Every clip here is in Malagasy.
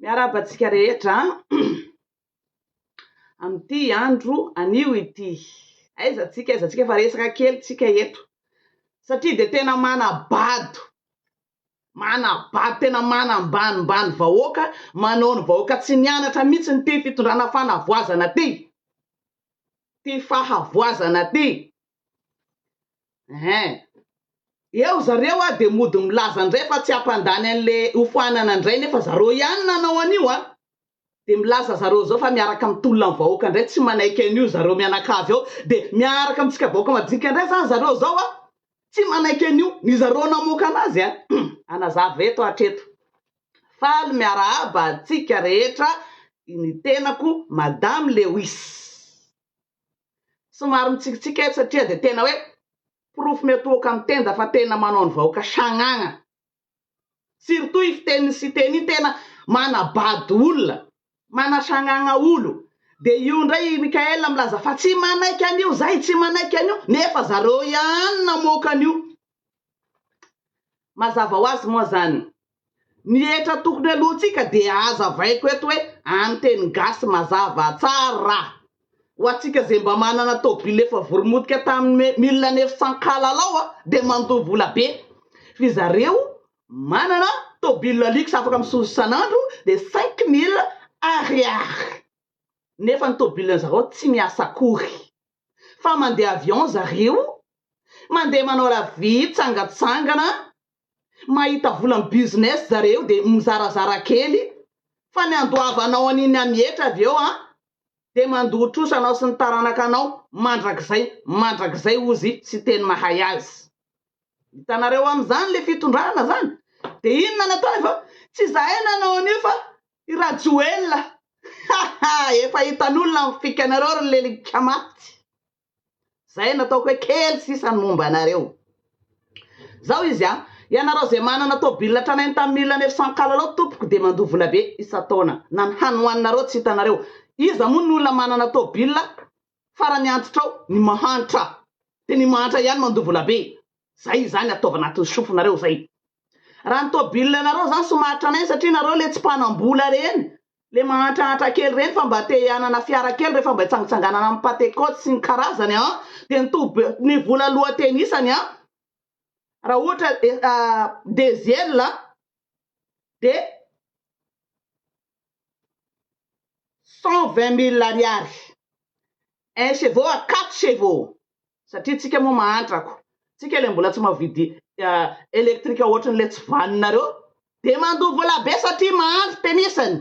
Miarahaba antsika rehetra amin'ity andro anio ity. Aiza antsika, aiza antsika fa resaka kely tsika eto. Satria dia tena manabado, manabado, tena manambanimbany vahoaka, manao ny vahoaka tsy nianatra mihitsy ity fitondrana fanavoazana ity, ity fahavoazana ity. Eeh. Eo zareo a de mody milaza ndray fa tsy hampandany anle hofoanana ndray nefa zareo ihany nanao an'io a! de milaza zareo zao fa miaraka mitolona ny vahoaka ndray tsy manaiky an'io zareo mianakavy ao de miaraka amintsika vahoaka madinika ndray zany zareo zao a! tsy manaiky an'io ny zareo namoaka anazy a! Hanazava eto hatreto. Faly miarahaba antsika rehetra, ny tenako Madame Lewis. Somary mitsikitsiky eto satria dia tena hoe porofo miatohoka amin'ny tenda fa tena manao ny vahoaka sagnagna. Surtout i Fiteny Siteny iny tena manabado olona, manasagnagna olo. Dia io indray i Mickaël milaza fa tsy manaiky an'io zahay, tsy manaiky an'io, nefa zareo ihany namoaka an'io. Mazava ho azy moa zany, ny hetra tokony aloantsika dia hazavaiko eto hoe any teny gasy mazava tsara, ho antsika zay mba manana tôbily efa voromotika tamin'ny mille neuf cent kalalao dia mandoa vola be, f'y zareo manana tôbily luxe afaka mizozo isan'andro dia cinq mille Ariary, nefa ny tôbilin'zareo tsy miasa akory. fa mandeha avion zareo, mandeha manao la vie mitsangatsangana, mahita vola amin'ny business zareo dia mizarazara kely fa ny andoavanao an'iny hamihetra avy eo an dia mandoa trosa anao sy ny taranakanao mandrakizay mandrakizay ozy sy teny mahay azy. Hitanareo amin'izany ilay fitondrana izany dia inona no ataony fa tsy izahay nanao an'io fa I Rajoelina ha ha efa hitan'olona ny fikanareo ry lelika maty zay nataoko hoe kely sisa ny momba anareo zao izy an ianareo zay manana tobile tranainy tamin'ny mille neuf cent kalalao tompoko dia mandoa volabe isan-taona na ny hany hoaninareo tsy hitanareo iza moa ny olona manana tobile Farany antitra ao ny mahantra dia ny mahantra ihany mandovola be. Zay izany ataovy anatin'ny sofinareo zay. Raha ny tôbile nareo zany somaharitra anay satria nareo le tsy mpanambola reny le mahantrahantra kely reny fa mba te hianana fiara kely refa mba hitsangitsanganana am pate cote sy ny karazany an dia ny tobi ny vola lohatenisany an raha ohatra diesel dia Cent vingt mille ariary un chevaux à quatre chevaux satria tsika moa mahantra ko tsika le mbola tsy mavidy electrique ohatran le tsy vaninareo de mandoa vola be satria mahantra tenisany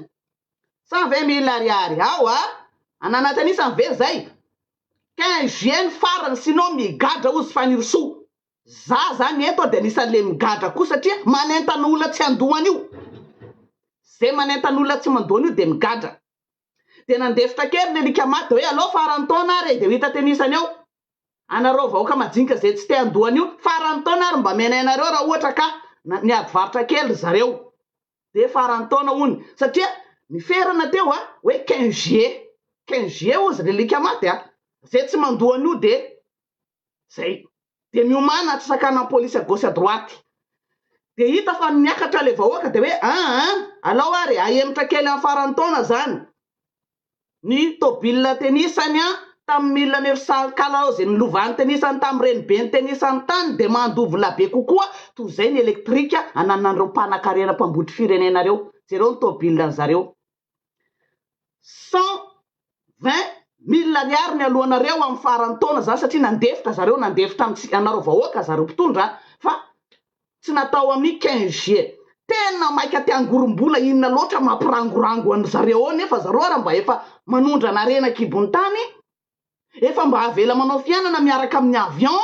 cent vingt mille ariary ao a ananatra anisany ve zay quinze juin ny farany sinon migadra ozy Fanirisoa Za zany eto de anisan le migadra koa satria manentana olona tsy handoa anio. Ze manentana olona tsy mandoa anio de migadra. De nandefitra kely ny alika maty de hoe alao farany taona ary e de ho hita tenisany ao. Anareo vahoaka majinika ze tsy te handoa anio farany taona ary mba menay nareo ra ohatra ka niady varotra kely ry zareo. De farany taona hono satria ny ferana teo a hoe quinze juillet. Quinze juillet ozy ry alika maty a. Ze tsy mandoa anio de zay de miomana tsy sakanan'ny police à gauche à droite de hita fa miakatra le vahoaka de hoe an an alao ary ahemotra kely amin'ny faran'ny taona zany ny tobile tenisany an tamin'ny milina ny risankala ze ny lovany tenisany tamin'ny renibeny tenisany tany de mandovina be kokoa toy zay ny electrique ananan'ireo mpanakarena mpambotry firenena reo jereo ny tobile ny zareo Cent vingt mille ariary mialohanareo amin'ny faran'ny taona zany satria nandefitra zareo nandefitra amintsika anareo vahoaka zareo mpitondra fa tsy natao amin'ny quinze juillet. Tena maika te hangorombola inona loatra mampirangorango an'zareo ao nefa zareo ary mba efa manondrana harena an-kibon'ny tany Efa mba avela manao fiainana miaraka amin'ny avion,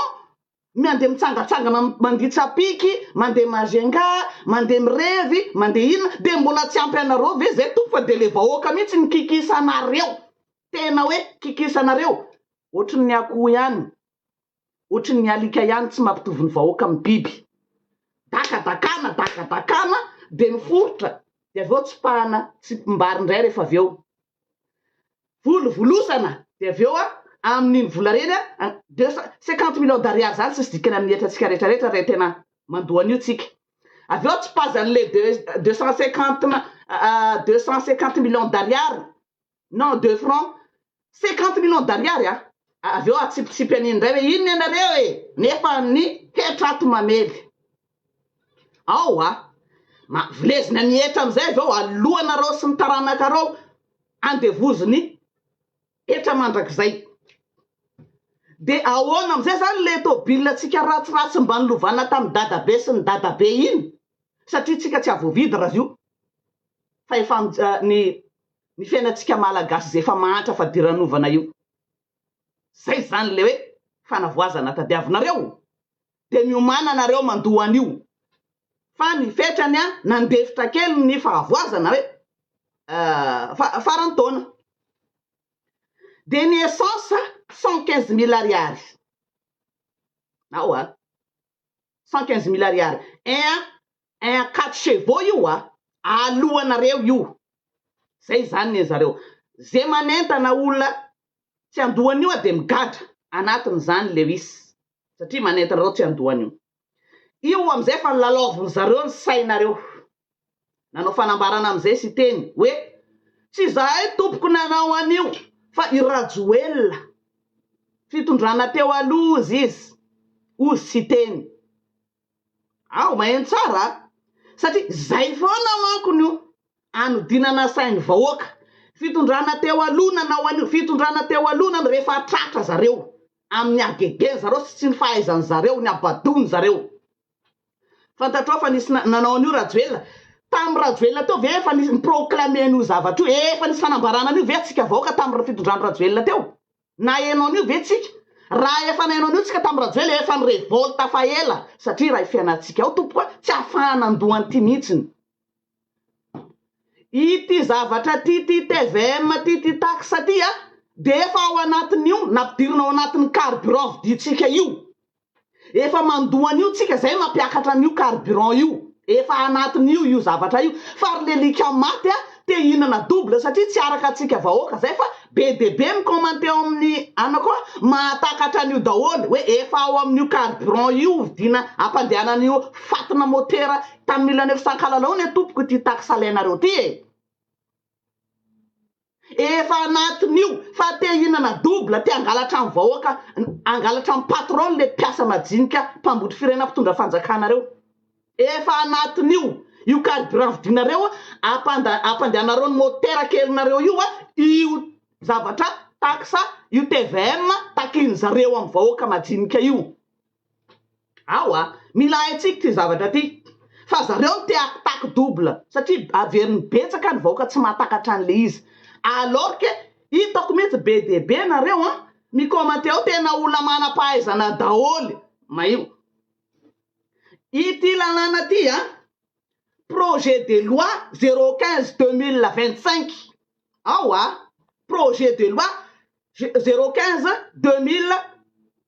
miandeha mitsangatsangana mandia tsapiky, mandeha Majunga, mandeha mirevy, mandeha inona, dia mbola tsy ampy anareo ve izay Tompo fa dia le vahoaka mihitsy no kikisanareo, tena hoe kikisanareo, ohatrin'ny akoho ihany, ohatrin'ny alika ihany tsy mampitovy ny vahoaka amin'ny biby, dakadakana, dakadakana dia miforitra dia avy eo tsipahana tsipim-bary indray rehefa avy eo Volovolosana dia avy eo amin'iny vola ireny deux cent cinquante millions d'ariary izany tsisy dikany amin'ny hetratsika rehetrarehetra raha tena mandoa an'io tsika. Avy eo tsipazan'ilay deux deux cent cinquante ma- deux cent cinquante millions d'ariary non de francs cinquante millions d'ariary a! avy eo atsipitsipy an'iny indray hoe inona ianareo e! nefa ny hetra ato mamely. Ao a! Ma, vilezina ny hetra amin'izay avy eo aloanareo sy ny taranakareo andevozin'ny hetra mandrakizay. Dia ahoana amin'izay izany ilay tobilantsika ratsiratsy mba nilovana tamin'ny dadabe sy ny dadabe iny? Satria tsika tsy havoavidy raha io fa efa ny ny fiainantsika malagasy izay efa mahantra fadiranovana io. Izay izany ilay hoe fanavoazana tadiavinareo. de miomana nareo mandoa anio fa ny fetrany a nandefitra kely ny fahavoazana hoe fa faran'ny taona de ny essence cent quinze mille ariary ao a cent quinze mille ariary un un quatre chevaux io a, alohanareo io, zay zany ne zareo, ze manentana olona tsy andohany io a de migadra anatiny zany lewis satria manentana reo tsy andohany io, io amizay efa nilalaoviny zareo ny sainareo, nanao fanambarana amizay siteny hoe tsy izahay tompoko nanao anio fa i rajoelina fitondrana teo aloha ozy izy ozy siteny. Ao, maheno tsara a! Satria zay foana manko no anodinana sain'ny vahoaka. Fitondrana teo aloha nanao an'io, fitondrana teo aloha nanao, rehefa tratra zareo amin'ny hagegeny zareo sy tsy ny fahaizany zareo, ny habadoany zareo. Fantatrao fa nisy na, nanao an'io Rajoelina? Tamin'ny Rajoelina teo ve efa nisy ni-proclamer an'io zavatra io? Efa nisy fanambarana an'io ve tsika vahoaka tamin'ny fitondrany Rajoelina teo? Naheno an'io ve tsika? Raha efa naheno an'io tsika tamin'i Rajoelina efa ni-revolte fa ela satria raha i fiainantsika ao tompoko a, tsy afahana andoha an'ity mihitsiny. Ity zavatra ity, ity tvm ity, ity taxe ity a, dia efa ao anatin'io nampidirina ao anatin'ny carburant vidintsika io. Efa mandoa an'io tsika zay mampiakatra an'io carburant io. Efa anatin'io io zavatra io. Fa ry lelika maty a, te hihinana double satria tsy araka antsika vahoaka zay fa be dia be ny commenter ao amin'ny ana koa mahatakatra an'io daholo hoe efa ao amin'io carburant io vidina ampandehanana an'io fatina motera tamilany io. Sankalalau ne tompoko ity tax alainareo ty e. Efa anatin'io fa te hihinana double, te hangalatra ny vahoaka, hangalatra ny patron le mpiasa majinika mpambotry firenena mpitondra fanjakana reo. Efa anatin'io io carburant vidinareo ampandehanareo ny motera kelinareo io io zavatra taxe io tvm takian'zareo amin'ny vahoaka majinika io. Awa, mila haintsika ity zavatra ity fa zareo no te attaque double satria averiny betsaka ny vahoaka tsy mahatakatra an'le izy alors que hitako mihitsy be dia be nareo an mi-commenter ao tena olona manam-pahaizana daholo maio ity lalàna ity an projet de loi zero quinze deux mille vingt cinq awa projet de loi zero quinze deux mille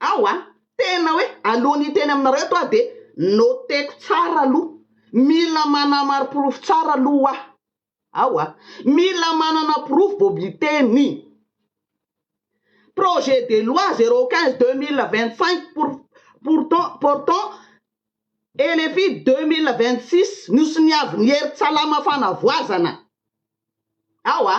Ao a! Tena hoe alohan'ny hiteny aminareo eto aho dia noteko tsara aloha. Mila manamariporofo tsara aloha hoa. Ao a! Mila manana porofo vao miteny. Projet de loi zéro quinze deux mille vingt cinq pour pourtant portant LFI deux mille vingt six, Nosoniavin' i Hery Tsalama Fanavoazana. Ao a!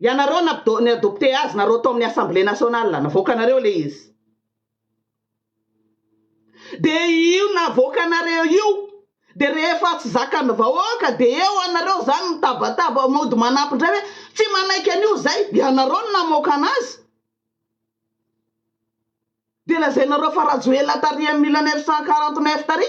Ianareo no ni adopter azy nareo tao amin'ny assemblée nationale, navoakanareo ilay izy. Dia io navoakanareo io, dia rehefa tsy zakan'ny vahoaka dia eo anareo izany mitabataba mody manapy indray hoe tsy manaiky an'io izay, ianareo no namoaka anazy. Dia lazainareo fa Rajoelina tary en mille neuf cent quarante neuf tary.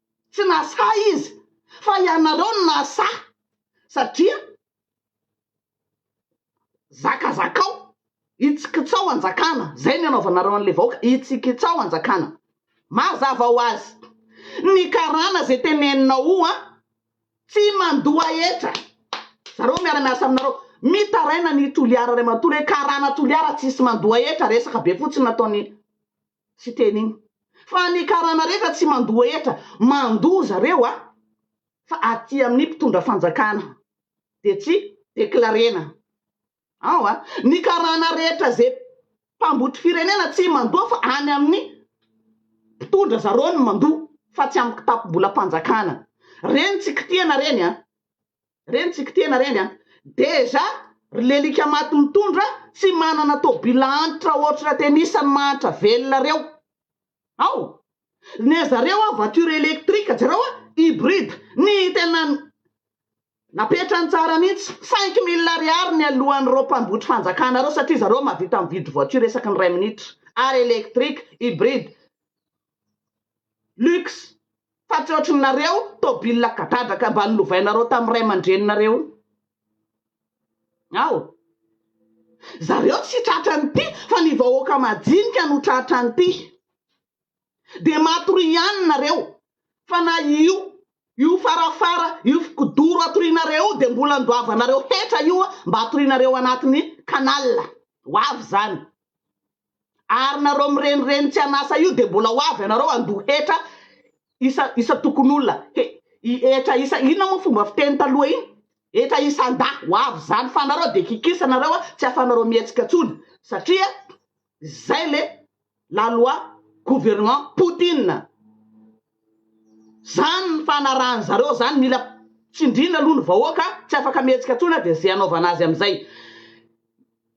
Tsy nasahy izy fa ianareo no nasahy satria zakazakao, hitsikitsao hanjakana, zay no anaovanareo an'le vahoaka, hitsikitsao hanjakana. Mazava ho azy, ny karana zay teneninao an, tsy mandoa hetra, zareo miara miasa aminareo, mitaraina an'i Toliara ray manontolo hoe karana Toliara tsisy mandoa hetra, resaka be fotsiny nataon'i Tsy teny iny fa ny karana rehetra tsy mandoa hetra mandoa zareo a! Fa aty amin'ny mpitondra fanjakana dia tsy declarena ao a! Ny karana rehetra ze mpambotry firenena tsy mandoa fa any amin'ny mpitondra zareo no mandoa fa tsy amin'ny kitapom-bolam-panjakana. Reny tsy kitihana reny a! Reny tsiky tena reny a! Dejà ry lelika maty mitondra tsy manana tobila antitra otra tennis ny mahantra velona reo ao! Ne zareo a voiture electrique jereo a hybride ny tena napetrany tsara mintsy cinq mille ariary ny alohan reo mpambotry fanjakana reo satria zareo mahavita mividy voiture isaky ny ray minitra ary electrique hybride Lux, fa tsy ohatry ny nareo tôbila gadradraka mba nolovainareo tamin'ny ray aman-dreninareo iny ao. Zareo tsy tratra an'ity fa ny vahoaka majinika no tratra an'ity. Dia matoria ihany nareo fa na io io farafara io kidoro atorianareo io dia mbola andoavanareo hetra io mba atorianareo anatin'ny canal ho avy izany. Ary nareo mirenireny tsy an'asa io de mbola ho avy anareo handoa hetra isa isa tokon'olona he i hetra isa inona moa fomba fiteny taloha iny hetra isan-dahy ho avy zany fa anareo de kikisa nareo a tsy afanareo mihetsika tsony satria zay le la loi gouvernement poutine zany ny fanarahan zareo zany mila tsindrina aloha ny vahoaka tsy afaka mihetsika tsony a de ze anaovana azy amizay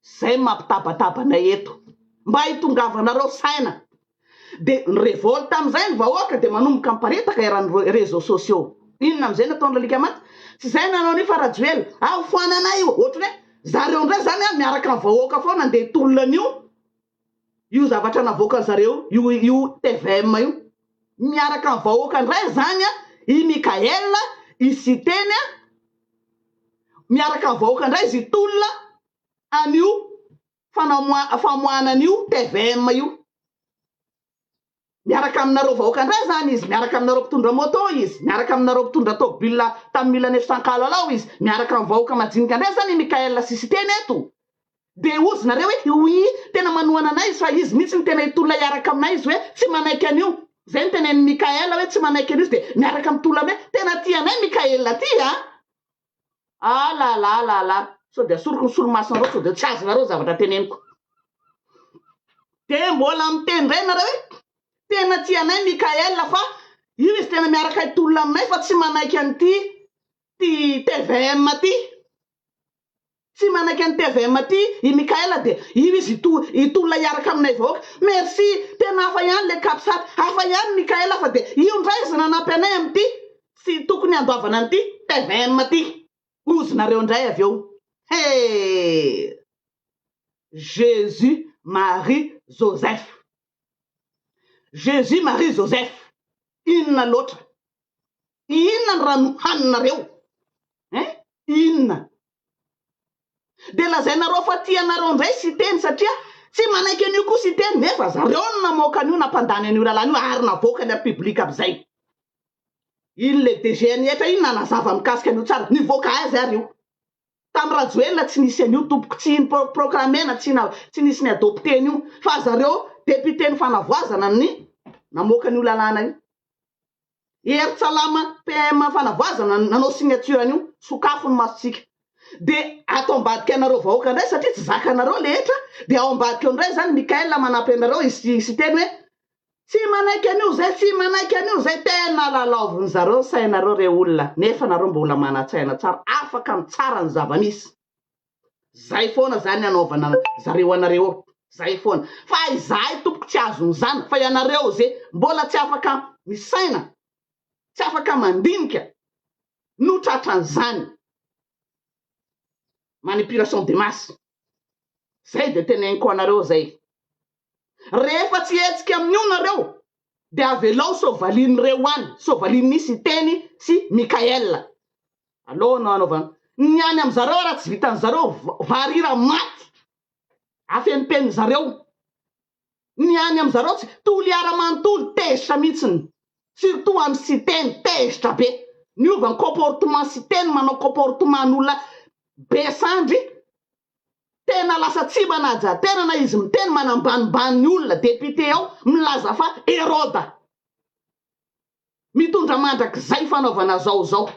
Zay no mampitabataba anay eto. Mba hitongavanareo saina. Dia ny revolte amizay ny vahoaka dia manomboka miparitaka eran'ny reseaux sociaux. Inona amizay no ataon'i Lalika Maty? Tsy izay no hanaon'i Fa Rajoelina. Aho foanana io. Ohatrany hoe zareo indray izany miaraka amin'ny vahoaka foana handeha hitolona an'io. Io zavatra navoakan zareo io io tvm io miaraka amin'ny vahoaka indray zany an, i Mickaël, i Siteny an, miaraka amin'ny vahoaka indray izy tolona an'io fanamoa famoahana an'io tvm io. Miaraka aminareo vahoaka ndray zany izy, miaraka aminareo mpitondra moto izy, miaraka aminareo mpitondra tôbila tam milan'efo sankahalalao izy, miaraka am vahoaka majinika ndray zany i Mickaël sy Siteny eto. Dia ozy nareo hoe oui tena manohana anay izy fa izy mihitsy no tena hitolona hiaraka aminay izy hoe tsy manaiky an'io. Zay no tenenin'i Mickaël hoe tsy manaiky an'io izy dia miaraka mitolona aminay. Tena tia anay Mickaël ty an! Ah la la la la, sao dia asoriko ny solomasonareo sao dia tsy azonareo ny zavatra teneniko. Dia mbola miteny indray ianareo hoe tena tianay Mickaël fa io izy tena miaraka hitolona aminay fa tsy manaiky an'ity ty tvm ty. Tsy manaiky an'i tvm aty i Mickaël dia io izy hitolona hiaraka aminay vahoaka. Merci. Tena hafa ihany le Capsat. Hafa ihany Mickaël fa dia io ndray izy nanampy anay amin'ity. Tsy tokony handoavana an'ity tvm aty. Ozinareo indray avy eo. He! Jesus Marie Joseph. Jesus Marie Joseph. Inona loatra. Inona ny raha nohaninareo eh? Inona? Dia lazainareo fa tia anareo indray Siteny satria tsy manaiky an'io koa Siteny nefa zareo no namoaka an'io nampandany an'io lalàna io ary navoakany ary public amizay. Iny le DGNIH iny nanazava mikasika an'io tsara. Nivoaka aiza ary io? Tam Rajoelina tsy nisy an'io tompoko tsy in proclamena tsy na tsy nisy ny adopter an'io fa zareo député ny fanavoazana ny namoaka an'io lalàna io. Hery Tsalama PM Fanavoazana nanao signature an'io, sokafo ny masontsika. Dia ato ambadika anareo vahoaka indray satria tsy zakanareo le hetra dia ao ambadika eo indray izany Mickaël manampy anareo hi hi hiteny hoe tsy manaiky an'io izay, tsy manaiky an'io izay, tena lalaovin'ny zareo ny sainareo re olona nefa nareo mbola manan-tsaina tsara afaka mitsara ny zava-misy. Zay foana zany anaovana zareo anareo eo zay foana fa izahay tompoko tsy azony zany fa ianareo ze mbola tsy afaka misaina tsy afaka mandinika no tratran'zany manipulation de masse zay de teneniko anareo zay rehefa tsy hetsika amin'io nareo de avelao sovalin'reo any sovalin'ny siteny sy Mickaël Aleo no anaovana ny any amin zareo ary raha tsy vitan zareo varira maty afenimpenin zareo ny any amin zareo tsy toliara manontolo tezitra mihitsiny surtout any Siteny tezitra be miova ny comportement Siteny manao comportement ny olona be sandry tena lasa tsy manajaterana na izy miteny manambanimbany ny olona député ao milaza fa Heroda. Mitondra mandrakizay fanaovana zao zao.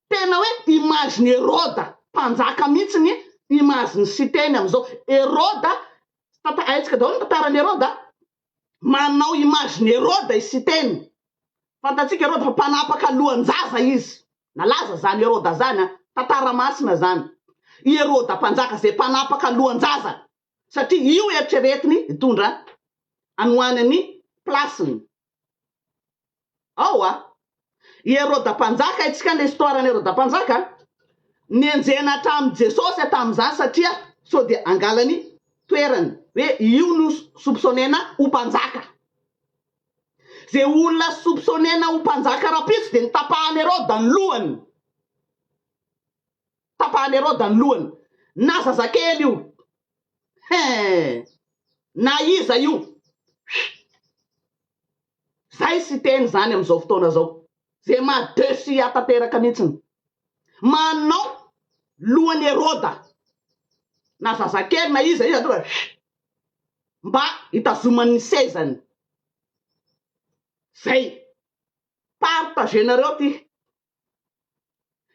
Tena hoe image ny Heroda mpanjaka mihitsy ny image ny Siteny amizao. Heroda, tanta haintsika daholo ny tantaran'i Heroda a. Manao image ny Heroda i Siteny. Fantatsika Heroda fa mpanapaka lohanjaza izy. Nalaza zany Heroda zany a. Tantara masina zany. I Heroda mpanjaka zay mpanapaka lohanjaza satria io eritreretiny hitondra any ho any ny place-ny ao a! I Heroda Mpanjaka, haintsika ny histoire an'i Heroda Mpanjaka a! nenjehina hatramin'i Jesosy a! tamin'izany satria sao dia hangalany toerany, hoe io no soupçonnena ho mpanjaka, izay olona soupçonnena ho mpanjaka rahampitso dia notapahan'i Heroda ny lohany. Tapahan'i Heroda ny lohany na zazakely io hein! Na iza io huiih! Zay Siteny zany amin'izao fotoana zao ze maha dessus ahy tanteraka mintsiny. Manao lohan'i Heroda na zazakely na iza iza tonga huiih! Mba hitazomany ny sezany. Zay. Partager-nareo ty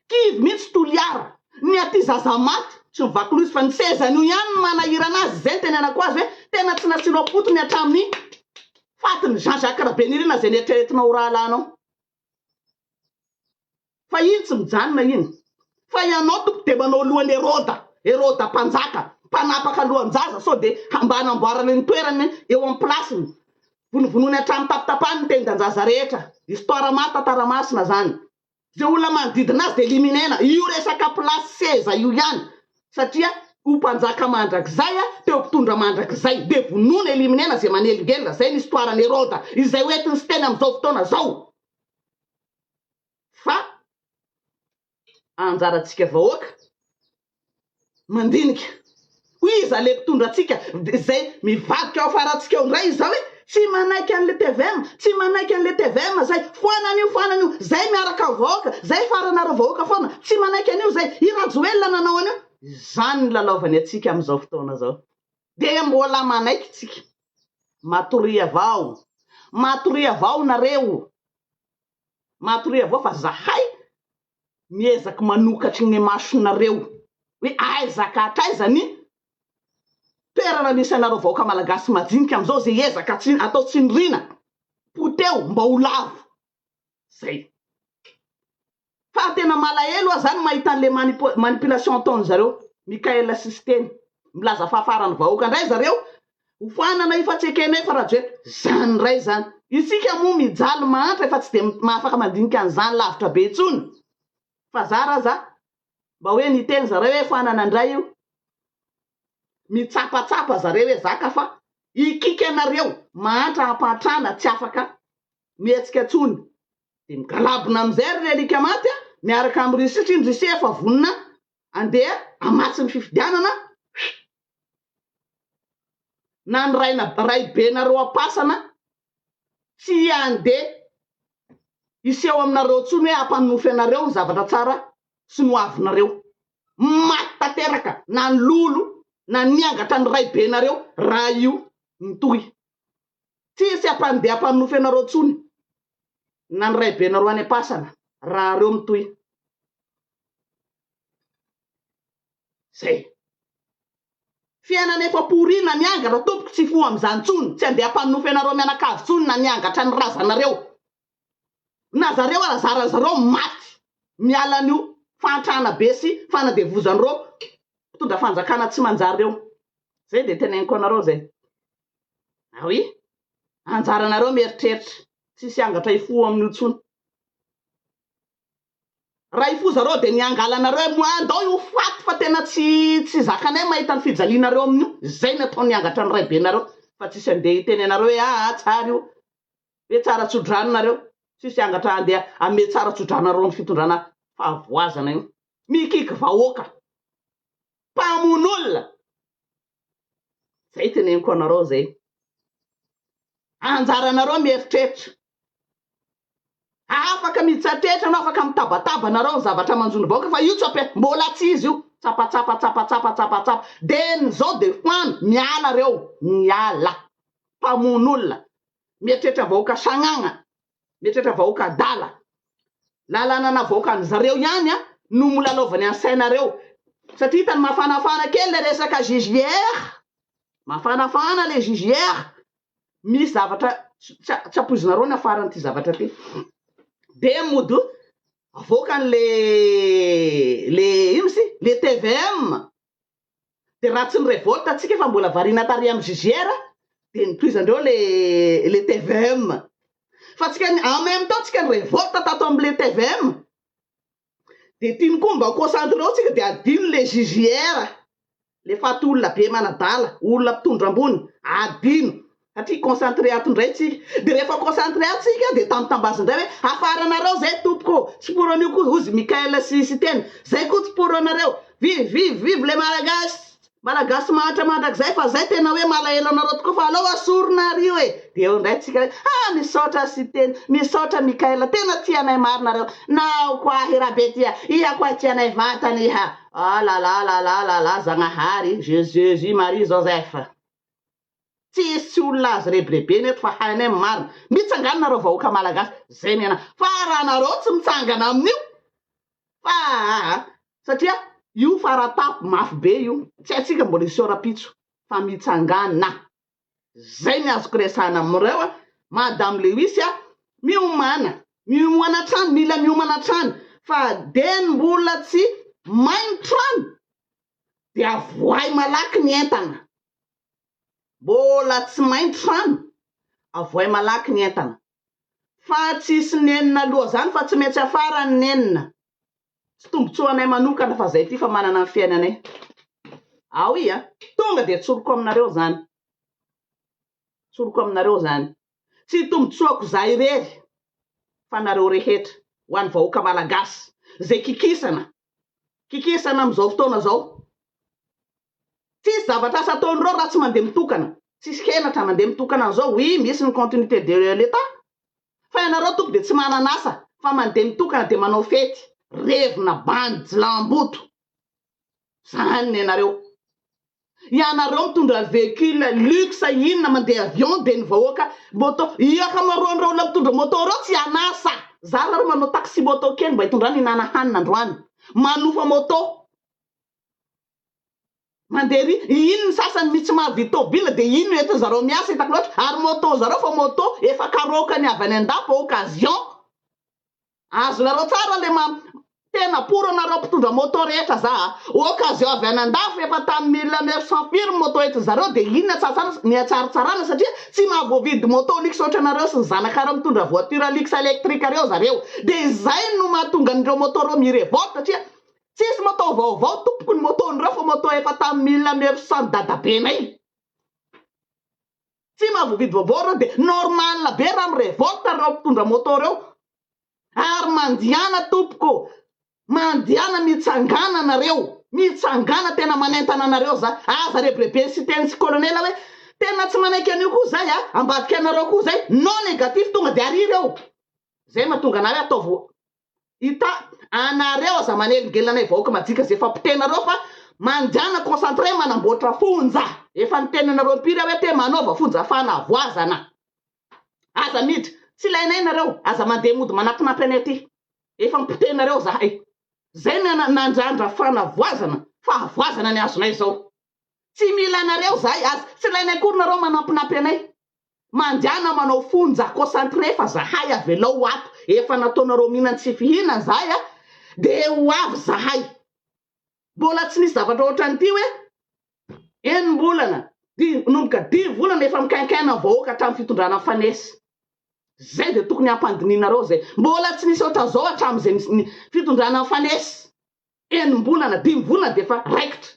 Kivy mihitsy Toliara. Ny aty zaza maty tsy ny vakolozy fa ny sezany io ihany no manahirana azy, izay no tenenako azy hoe tena tsy natsilo am-potony hatramin'ny fatin'i Jean Jacques Rabenirina izay neritreretinao ho rahalahinao. Fa iny tsy mijanona iny. Fa ianao tompoko dia manao lohan'i Heroda, Heroda mpanjaka, mpanapaka lohan-jaza sao dia mba hanamboarany ny toerany eo am-pilasiny. Vonovonoiny hatramin'ny tapitapahany ny tendan-jaza rehetra. Histoire marina tantara masina zany. Ze olona manodidina azy de eliminer-na. Io resaka place seza io ihany satria ho mpanjaka mandrakizay a, teo mpitondra mandrakizay. De vonoina eliminer-na ze manelingelina. Zay ny histoire an'i Heroda. Izay ho entin'i Siteny amin'izao fotoana zao. Fa. anjarantsika vahoaka mandinika hoy iza le mpitondra antsika zay mivadika ao afarantsika ao ndray izao e tsy manaiky anle tvm tsy manaiky anle tvm zay foana anio foana anio zay miaraka am vahoaka zay faranareo vahoaka foana tsy manaiky anio zay i rajoelina nanao anio izany ny lalaovany antsika amizao fotoana zao de mbola manaiky tsika matoria avao matoria avao nareo Matoria avao fa zahay miezaky manokatry gne masonareo hoe aiza ka hatraiza ny toerana misy anareo vahoaka malagasy majinika amzao ze ezaka tsy atao tsindrina poteho mba ho lavo zay fa tena malahelo ah zany mahita anle manipulation ataonzareo Mickael sy Siteny milaza fahafarany vahoaka ndray zareo Hofanana io fa tsy ekenay fa Rajoelina zany ndray zany. Isika moa mijaly mahantra efa tsy dia mahafaka mandinika an'izany lavitra be intsony. Fa zara aza mba hoe niteny zareo hoe hofanana ndray io. Mitsapatsapa zareo ezaka fa ikiky anareo mahantra ampahantrana tsy afaka mihetsika intsony. Dia migalabona amin'izay ry Relique Maty a, miaraka amin'i Russie satria ny Russie efa vonona andeha hamatsy ny fifidianana. Huiiff. na ny raina raibenareo am-pasana tsy handeha hiseho aminareo intsony hoe hampanonofy anareo ny zavatra tsara sy ny ho avinareo. Maty tanteraka na ny lolo na niangatra ny raibenareo raha io mitohy. Tsy hisy hampandeha hampanonofy anareo intsony na ny raibenareo any am-pasana raha reo mitohy. Zay. Fiainana efa pourina miangatra tompoko tsy hifoha amizany tsony tsy andeha ampaminofy anareo mianakavy tsony na niangatra ny razanareo na zareo ara zara zareo maty miala anio fahantrana be sy fanadevozan reo mpitondra fanjakana tsy manjary reo zay de teneniko anareo zay ah oui anjaranareo mieritreritra tsisy angatra hifoha aminio tsony. Ray fo zareo de ny angalanareo hoe moa andao io faty fa tena tsy tsy zakanay mahita ny fijalianareo amin'io zay ny ataony angatra ny raibenareo fa tsisy andeha hiteny anareo hoe aa tsara io ve tsara tsodrano nareo tsisy angatra andeha ame tsara tsodranareo ny fitondrana fahavoazana io mikiky vahoaka mpamon'olona zay teneniko anareo zay anjaranareo mieritreritra Afaka mitsatrehitra anao, afaka mitabataba anareo ny zavatra manjo ny vahoaka fa io tsy ampiha-, mbola tsy izy io, tsapatsapa, tsapatsapa, tsapatsapa, dia ny zao dia fano, miala reo, miala, mpamono olona, mieritreritra vahoaka sagnagna, mieritreritra vahoaka adala, lalanana vahoaka any zareo ihany an no molalaovany any sainareo, satria hitany mafanafana kely le resaka JJR, mafanafana le JJR, misy zavatra tsy ampoizinareo ny afaran'ity zavatra ity, dia mody avoakany le le ino moa izy ity le tvm, dia raha tsy ni-revolte antsika fa mbola variana tary amin'ny JJR dia notohizandreo le le tvm, fa antsika en même temps antsika ni-revolte tato amin'ilay tvm dia tiany koa mba concentré ao tsika dia adino le JJR le faty olona be manadala olona mpitondra ambony adino satria concentré ato indray tsika dia rehefa concentré ato tsika dia tambitambazy indray hoe hafaranareo zay tompoko tsy pour an'io koa hozy Michael sy Siteny zay koa tsy pour anareo vive vive vive le malagasy Malagasy mahantra mandrakizay fa zay tena hoe malahelo anareo tokoa fa aleo asorina ary io e de eo indray tsika hoe ha misaotra Siteny misaotra Mickaël tena tia anay marina nareo na ao ko ahy Rabetia iha ko ahy tia anay vatana iha ah la la la la la la Zagnahary Jesus Marie Joseph tsisy olona azo rebirebena eto fa hainay ny marina, mitsangana nareo vahoaka malagasy zay ny anah fa raha nareo tsy mitsangana amin'io fa aa satria io faratampony mafy be io tsy haintsika mbola hiseho rapitso fa mitsangana zay ny azoko resahana amin'ireo a madame lewis a miomana miomana hatrany mila miomana hatrany fa dia ny mbola tsy may ny trano dia voay malaky ny entana Mbola tsy main trano, avoay malaky ny entana. Fa tsisy nenina loha zany fa tsy maintsy afara ny nenina. Tsy tombotsoa anay manokana fa zay ty fa manana ny fiainanay. Ao i a! Tonga dia tsoriko aminareo zany. Tsoriko aminareo zany. Tsy tombotsoako za irery fa nareo rehetra ho an'ny vahoaka malagasy zay kikisana, kikisana amizao fotoana zao. Tsisy zavatra asa ataon'ireo raha tsy mandeha mitokana. Tsisy henatra mandeha mitokana an'izao, oui misy ny continuité de l'Etat fa ianareo tompoko dia tsy manana asa fa mandeha mitokana dia manao fety, revina, bandy, jilamboto. Izany ny anareo. Ianareo mitondra véhicule luxe inona mandeha avion dia ny vahoaka moto, io ankamaroan'ireo olona mitondra moto ireo tsy an'asa, zara ary manao taxi moto kely mba hitondrany hihinana hanina androany, manofa moto. Mandeha ery, iny ny sasany mitsmavy vy tobile dia iny no entin zarao miasa hitako loatra, ary moto zarao fa moto efa karaokany avy any andapo occasion azonareo tsara le ma tena pour anareo mpitondra moto rehetra za a, occasion avy any andafo efa tam mille neuf cent firy ny moto entin zareo dia iny ny atsartsarana ny atsaritsarana satria tsy mahavoavidy moto luxe ohatra anareo sy ny zanakareo mitondra voiture luxe electrique reo zareo dia izay no mahatonga an'ireo moto reo mi revolte satria Tsisy moto vaovao tompoko ny moto nireo fa moto efa tamin'ny mille neuf cent dadabenay. Tsy mahavoavidy vaovao ireo dia normal be raha mirevolte ireo mpitondra moto ireo. Ary mandiana tompoko, mandiana mitsangana nareo, mitsangana tena manentana anareo za. Aza rebirebeny siten'tsy colonel hoe tena tsy manaiky an'io koa zay a, ambadika anareo koa zay, non negatif tonga dia ariry eo. Zay mahatonga anah hoe ataovy Ita anareo aza manelingelina anay vahoaka majika zay efa potehinareo fa mandiana concentre manamboatra fonja efa niteny anareo impiry aho hoe te manaova fonja fanavoazana aza miditra tsy ilainay nareo aza mandeha mody manapinapy anay aty efa mpotehinareo zahay zay ny nandrandra fanavoazana fahavoazana ny azonay zao Tsy mila anareo zahay aza tsy ilainay akory nareo manampinampy anay mandehana manao fonja concentré fa zahay avelao ho ato efa nataonareo mihinan tsy fihinana zahay a de ho avy zahay mbola tsy nisy zavatra ohatran'ity hoe enimbolana di nomboka dimy volana efa mikainkaina ny vahoaka hatramin'ny fitondrana fanes zay de tokony hampandinianareo zay mbola tsy nisy ohatran'izao hatramin'izay ny fitondrana fanes enim-bolana, dimy volana dia efa raikitra.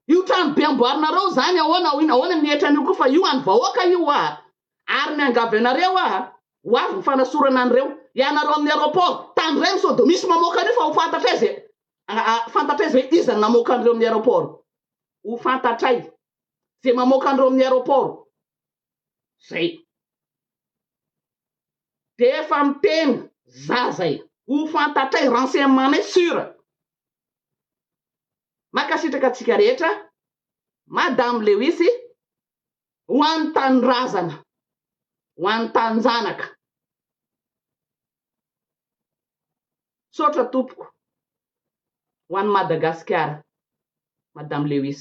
Io trano be amboarinareo zany ahoana hoy ahoana ny hetra an'io koa fa io an'ny vahoaka io hoa ary miangavy anareo hoa ho avy ny fanasorana an'ireo ianareo amin'ny aeroport tany iray sao dia misy mamoaka an'io fa ho fantatray zay fantatray zay hoe iza ny namoaka an'ireo amin'ny aeroport ho fantatray zay mamoaka an'ireo amin'ny aeroport zay de efa miteny za zay ho fantatray renseignementnay sur mankasitraka antsika rehetra madame lewis ho an'ny tanindrazana ho an'ny taninjanaka. Misaotra tompoko ho an'i Madagasikara Madame Lewis.